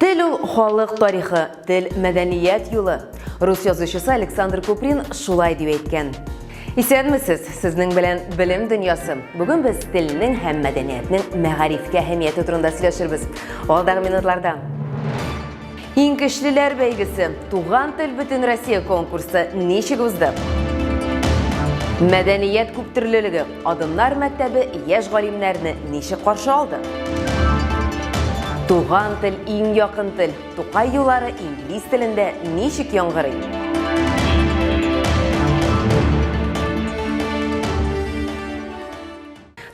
Тел ул халык тарихы, тел мәдәният юлы. Рус язучысы Александр Куприн шулай дип әйткән. Исәнмесез, сезнең белән Белем дөньясы. Бүген без телнең һәм мәдәниятнең мәгарифкә әһәмияте турында сөйләшербез. Алдагы минутларда Иң көчлеләр бәйгесе, Туган тел бөтен Россия конкурсы ничек узды? Мәдәният күптөрлелеге Адымнар мәктәбе яшь галимнәрне ничек каршы алды? Туган тел иң якын тел. Тукай юлары инглиз телендә ничек яңгырый?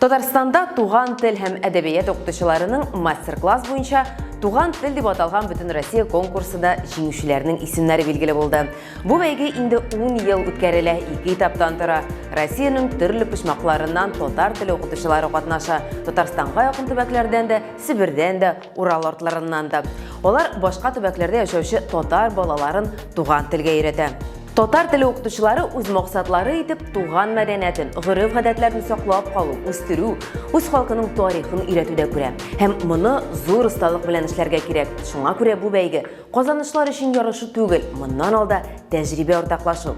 Татарстанда туган тел һәм әдәбият укытучыларының мастер-класс буенча Туган тел дип аталган бөтенроссия конкурсында җиңүчеләрнең исемнәре билгеле булды. Бу бәйге инде 10 ел үткәрелә, ике этаптан тора. Россиянең төрле почмакларыннан татар теле укытучылары катнаша. Татарстанга якын төбәкләрдән дә, Себердән дә, Урал артларыннан да. Алар башка төбәкләрдә яшәүче татар балаларын туган телгә өйрәтә. Татар теле укытучылары үз максатлары итеп туган мәдәниятен, гореф-гадәтләрен саклап калу, үстерү, үз халкының тарихын өйрәтүдә күрә. Һәм моны зур осталык белән эшләргә кирәк. Шуңа күрә бу бәйге Казанышлар өчен ярышу түгел, моннан алда тәҗрибә уртаклашу.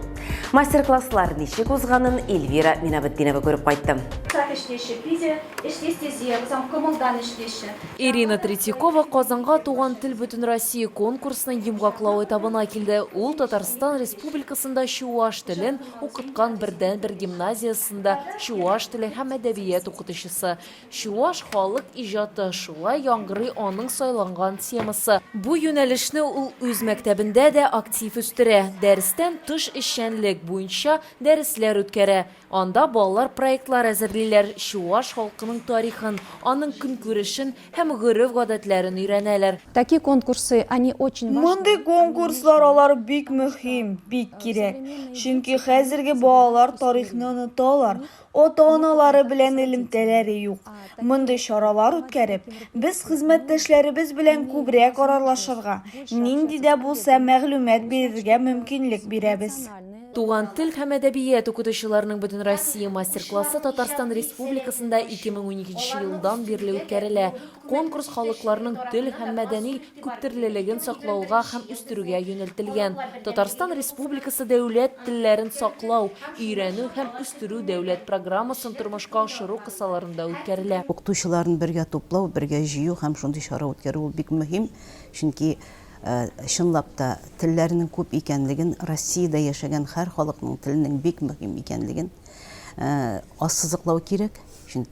Мастер-класслар ничек узганын Эльвира Минабетдинова күреп кайтты. Так эшлише, пиде, эшлестезия, узам комылдан эшлише. Ирина Третьякова Казанга Туган тел Бөтенроссия конкурсының йомгаклау этабына килде. Ул Татарстан Республикасында чуаш телен укыткан бердәнбер гимназиясендә чуаш теле һәм әдәбият укытучысы. Чуаш халык иҗаты, шулай яңгырый аның сайланган темасы. Бу юнәлешне ул үз мәктәбендә дә актив үстерә, дәрестән тыш эшчәнлек буенча дәресләр үткәрә. Анда балалар проектлар әзерлиләр, чуаш халкының тарихын, аның көнкүрешен һәм гореф-гадәтләрен өйрәнәләр. Такие конкурсы, они очень важны. Мондый конкурслар алар бик мөһим, бик кирәк. Чөнки хәзерге балалар тарихны оныталар, ата-аналары белән элемтәләре юк. Мондый чаралар үткәреп, без хезмәттәшләребез белән күбрәк аралашырга, нинди дә булса мәгълүмат бирергә мөмкинлек бирәбез. Туган тел һәм әдәбият укытучыларының Бөтенроссия мастер-классы Татарстан Республикасында 2012 елдан бирле үткәрелә. Конкурс халыкларның тел һәм мәдәни күптөрлелеген саклауга һәм үстерүгә юнәлтелгән Татарстан Республикасы дәүләт телләрен саклау, өйрәнү һәм үстерү дәүләт программасын тормышка ашыру кысаларында үткәрелә. Укытучыларны бергә туплау, бергә җыю һәм шундый чара үткәрү ул бик мөһим, чөнки, чынлап та, телләрнең күп икәнлеген, Россиядә яшәгән һәр халыкның теленең бик мөһим икәнлеген ассызыклау кирәк.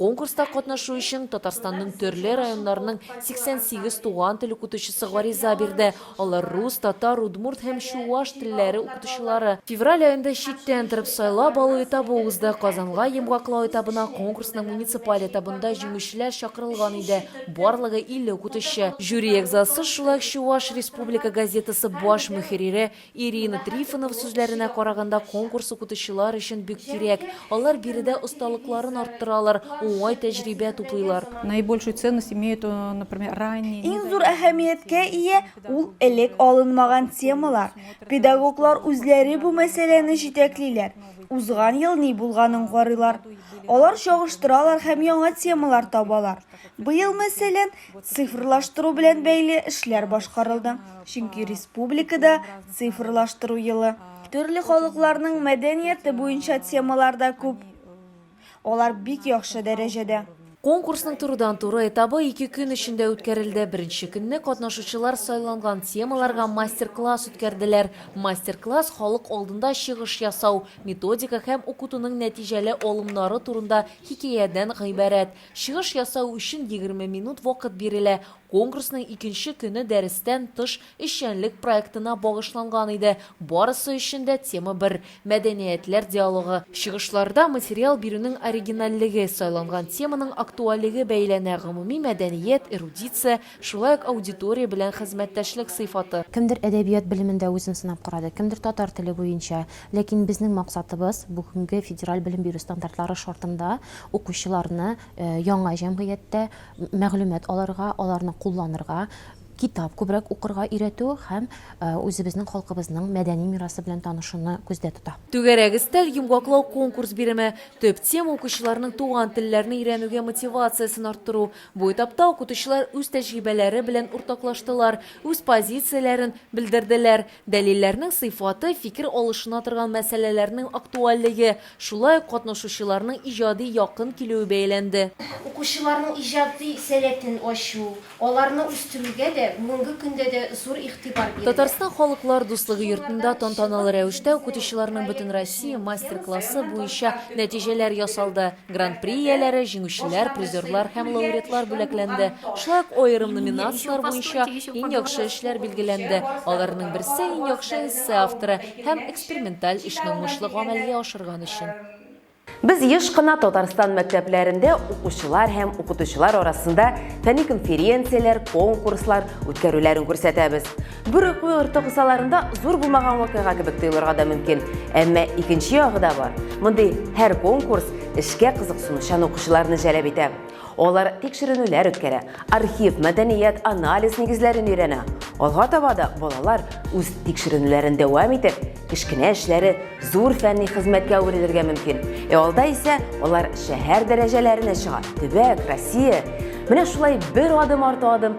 Конкурста катнашу өчен Татарстанның төрле районнарының 88 туган тел укытучысы гариза бирде. Алар рус, татар, удмурт һәм чуаш телләре укытучылары. Февраль аенда читтән торып сайлап алу этабы узды. Казанга йомгаклау этабына конкурсның муниципаль этабында җиңүчеләр чакырылган иде, барлыгы 50 укытучы. Жюри әгъзасы шулай ук Чуваш республика газетасы баш мөхеррире Ирина Трифонова сүзләренә караганда, конкурс укытучылар өчен бик кирәк. Алар биредә осталыкларын арттыралар, уңай тәҗрибә туплыйлар. Наибольшую ценность имеют, например, ранние. Иң зур әһәмияткә ия ул элек алынмаган темалар. Педагоглар үзләре бу мәсьәләне җитәклиләр, узган ел ни булганын карыйлар. Алар чагыштыралар һәм яңа темалар табалар. Быел, мәсәлән, Цифрлаштыру белән бәйле эшләр башкарылды, чөнки республикада цифрлаштыру елы. Төрле халыкларның мәдәнияте буенча темалар да күп. Алар бик яхшы дәрәҗәдә. Конкурсның турыдан-туры этабы ике көн эчендә үткәрелде. Беренче көнне катнашучылар сайланган темаларга мастер-класс үткәрделәр. Мастер-класс халык алдында чыгыш ясау, методика һәм укытуның нәтиҗәле алымнары турында хикәядән гыйбарәт. Чыгыш ясау өчен егерме минут вакыт бирелә. Конкурсның икенче көне дәрестән тыш эшчәнлек проектына багышланган иде. Барысы өчен дә тема бер, мәдәниятләр диалогы. Чыгышларда материал бирүнең оригинальлеге, сайланган теманың актуальлеге бәяләнә, гомуми мәдәният, эрудиция, Шулай ук аудитория белән хезмәттәшлек сыйфаты. Кемдер әдәбият белемендә үзен сынап карады, кемдер татар теле буенча. Ләкин безнең максатыбыз, бүгенге федераль белем бирү стандартлары шартында укучыларны яңа җәмгыятьтә мәгълүмат алырга, аларны кулланырга, китап күбрәк укырга өйрәтү һәм үзебезнең халкыбызның мәдәни мирасы белән танышуны күздә тота. Түгәрәк өстәл йомгаклау-конкурс биреме, төп тема, укучыларның туган телләрне өйрәнүгә мотивациясен арттыру, Бу этапта укытучылар үз тәҗрибәләре белән уртаклаштылар, үз позицияләрен белдерделәр. Дәлилләрнең сыйфаты, фикер алышына торган мәсьәләләрнең актуальлеге, шулай ук катнашучыларның иҗади якын килүе бәяләнде. Укучыларның иҗади сәләтен ачу, аларны үстерүгә дә бүгенге көндә дә зур игътибар бирелә. Татарстан Халыклар дуслыгы йортында тантаналы рәвештә укытучыларның бөтенроссия мастер-классы буенча нәтиҗәләр ясалды. Гран-при ияләре, җиңүчеләр, призерлар һәм лауреатлар бүләкләнде. Шулай ук аерым номинацияләр буенча иң яхшы эшләр билгеләнде, аларның берсе, иң яхшы эссе авторы һәм эксперименталь эшне уңышлы гамәлгә ашырган өчен. Без еш кына Татарстан мәктәпләрендә укучылар һәм укытучылар арасында фәнни конференцияләр, конкурслар үткәрүләрен күрсәтәбез. Бер уку йорты кысаларында зур булмаган вакыйга кебек тоелырга да мөмкин. Әмма икенче ягы да бар. Мондый һәр конкурс эшкә кызыксынучан укучыларны җәлеп итә. Алар тикшеренүләр үткәрә, архив, мәдәният, анализ нигезләрен өйрәнә. Алга таба да балалар үз тикшеренүләрен дәвам итеп, кечкенә эшләре зур фәнни хезмәткә әверелергә мөмкин. Ә алда исә алар шәһәр дәрәҗәләренә чыга, төбәк, Россия. Менә шулай бер адым арты адым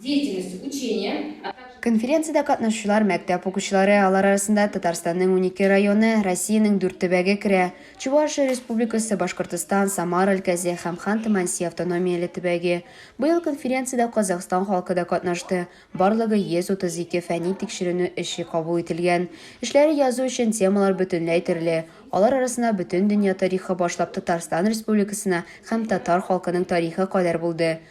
деятельности, учения, а также. Конференциядә катнашучылар мәктәп укучылары, алар арасында Татарстанның унике районы, Россиянең дүрт төбәге керә, Чувашия Республикасы, Башкортостан, Самара өлкәсе һәм Ханты-Манси автономияле төбәге. Быел конференциядә Казахстан халкы да катнашты. Барлыгы 132 фәнни тикшеренү эше кабул ителгән. Эшләре язу өчен темалар бөтенләй төрле. Алар арасында Бөтендөнья тарихы башлап Татарстан Республикасына һәм татар халкының тарихы кадәр булды.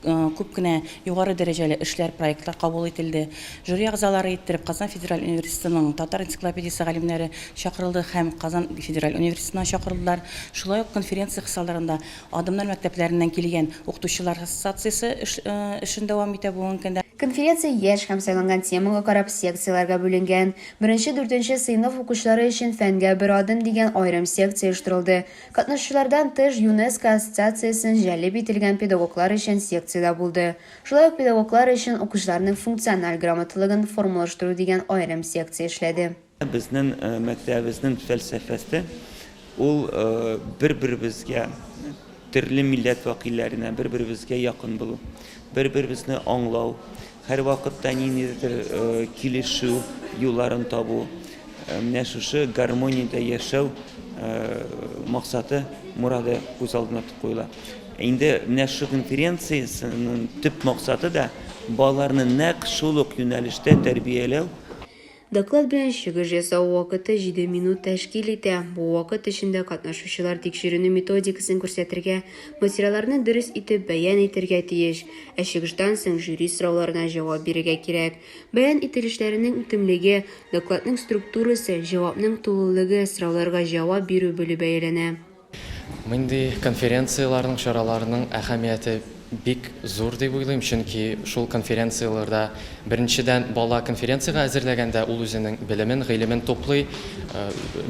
Күп кенә югары дәрәҗәле эшләр, проектлар кабул ителде. Жюри әгъзалары иттереп Казан федераль университетының татар энциклопедиясе галимнәре чакырылды һәм Казан федераль университетыннан чакырылдылар. Шулай ук конференция кысаларында Адымнар мәктәпләреннән килгән укытучылар ассоциациясе эшен дәвам итә бүгенге көндә. Конференция яшь һәм сайланган темага карап секцияләргә бүленгән. Беренче-дүртенче сыйныф укучылары өчен Фәнгә бер адым дигән аерым секция оештырылды. Катнашучылардан тыш, ЮНЕСКО ассоциациясен җәлеп ителгән педагоглар өчен секция дә булды. Шулай ук педагоглар өчен укучыларның функциональ грамоталыгын формалаштыру дигән аерым секция эшләде. Безнең мәктәбебезнең фәлсәфәсе ул бер-беребезгә, төрле милләт вәкилләренә бер-беребезгә якын булу, бер-беребезне аңлау, Һәрвакытта ниндидер килешү юлларын табу, менә шушы гармониядә яшәү максаты, морады күз алдына куела. Инде менә шушы конференциясенең төп максаты да балаларны нәкъ шул ук юнәлештә тәрбияләү, Доклад белән чыгыш ясау вакыты җиде минут тәшкил итә. Бу вакыт эчендә катнашучылар тикшеренү методикасын күрсәтергә, материалларны дөрес итеп бәян итәргә тиеш. Ә чыгыштан соң жюри сорауларына җавап бирергә кирәк. Бәян ителешләренең үтемлеге, докладның структурасы, җавапның тулылыгы, сорауларга җавап бирү беле бәяләнә. Мондый конференцияләрнең, чараларның әһәмияте бик зур дип уйлыйм, чөнки шул конференцияләрдә, беренчедән, бала конференциягә әзерләгәндә ул үзенең белемен, гыйлемен туплый,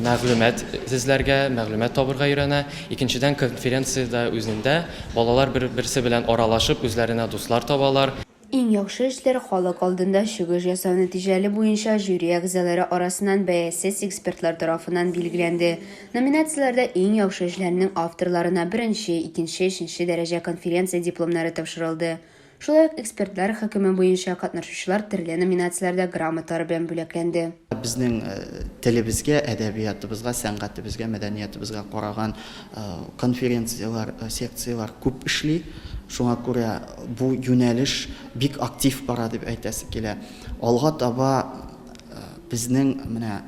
мәгълүмат эзләргә, мәгълүмат табырга өйрәнә. Икенчедән, конференциядә үзендә балалар бер-берсе белән аралашып, үзләренә дуслар табалар. Иң яхшы эшләр халык алдында чыгыш ясау нәтиҗәле буенча жюри әгъзалары арасыннан бәясез экспертлар тарафыннан билгеләнде. Номинацияләрдә иң яхшы эшләрнең авторларына беренче, икенче, өченче дәрәҗә конференция дипломнары тапшырылды. Шулай ук экспертлар хөкеме буенча катнашучылар төрле номинацияләрдә грамоталар белән бүләкләнде. Безнең телебезгә, әдәбиятыбызга, сәнгатебезгә, мәдәниятыбызга караган конференцияләр, секцияләр күп эшли. Шуңа күрә бу юнәлеш бик актив бара дип әйтәсе килә. Алга таба безнең менә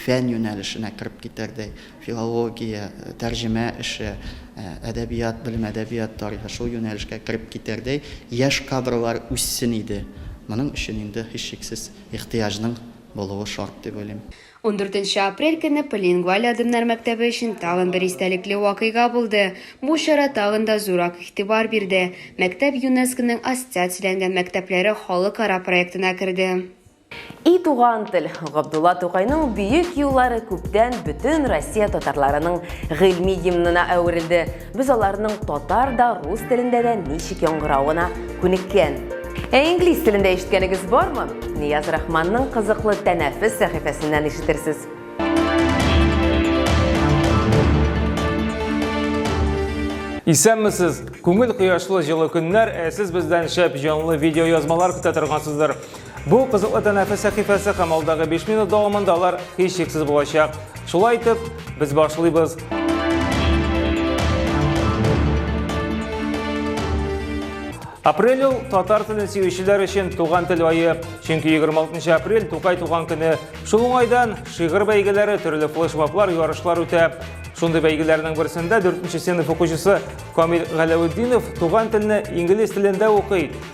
фән юнәлешенә кереп китәрдәй, филология, тәрҗемә эше, әдәбият белеме, әдәбият тарихы, шул юнәлешкә кереп китәрдәй яшь кадрлар үссен иде. Моның өчен инде, һичшиксез, ихтыяҗның булуы шарт дип уйлыйм. Ундүртенче апрель көнне Полилингваль адымнар мәктәбе өчен тагын бер истәлекле вакыйга булды. Бу чара тагын да зуррак игътибар бирде. Мәктәп ЮНЕСКОның ассоциацияләнгән мәктәпләре халыкара проектына керде. И туган тел, Габдулла Тукайның бөек юллары күптән бөтен Россия татарларының гыйльми гимнына әверелде. Без аларның татар да, рус телендә дә ничек яңгыравына күнеккән. Ә инглиз телендә ишеткәнегез бармы? Нияз Рахманның кызыклы тәнәфес сәхифәсеннән ишетерсез. Исәнмесез! Күңел кояшлы җылы көннәр, ә сез бездән шәп җанлы видеоязмалар көтә торгансыздыр. Бу кызыклы тәнәфес сәхифәсе һәм алдагы 5 минут дәвамында алар һичшиксез булачак. Шулай итеп, без башлыйбыз. Апрель ул татар телен сөючеләр өчен туган тел айы. Чөнки 26 апрель Тукай туган көне. Шул уңайдан шигырь бәйгеләре, төрле флешмоблар, ярышлар үтә. Шундый бәйгеләрнең берсендә 4 сыйныф укучысы Камил Галәветдинов туган телне инглиз телендә укый.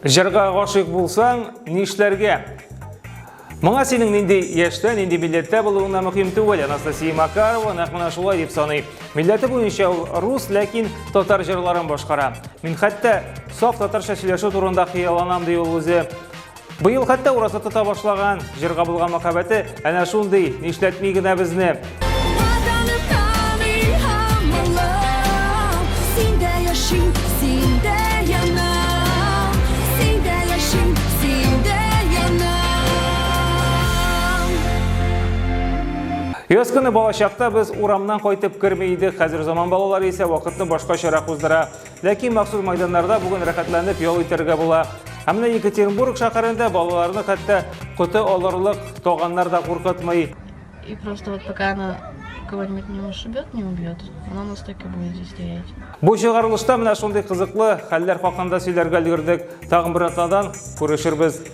Җырга гашыйк булсаң, нишләргә? Моңа синең нинди яшьтә, нинди милләттә булуыңа мөһим түгел. Анастасия Макарова нәкъ менә шулай дип саный. Милләте буенча ул рус, ләкин татар җырларын башкара. Мин хәтта саф татарча сөйләшү турында хыялланам ди ул үзе. Быел хәтта ураза тота башлаган, җырга булган мәхәббәте әнә шундый, нишләтми генә безне. Яз көне балачакта без урамнан кайтып керми идек, хәзер заман балалары исә вакытны башкачарак уздыра. Ләкин махсус майданнарда бүген рәхәтләнеп ял итәргә була. Ә менә Екатеринбург шәһәрендә балаларны хәтта коты алырлык таганнар да куркытмый. И просто вот пока она кого-нибудь не ушибет, не убьет, она нас так и будет здесь стоять. Бу чыгарылышта менә шундый кызыклы хәлләр хакында сөйләргә өлгердек. Тагын бер атнадан күрешербез.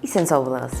Исән сау булыгыз!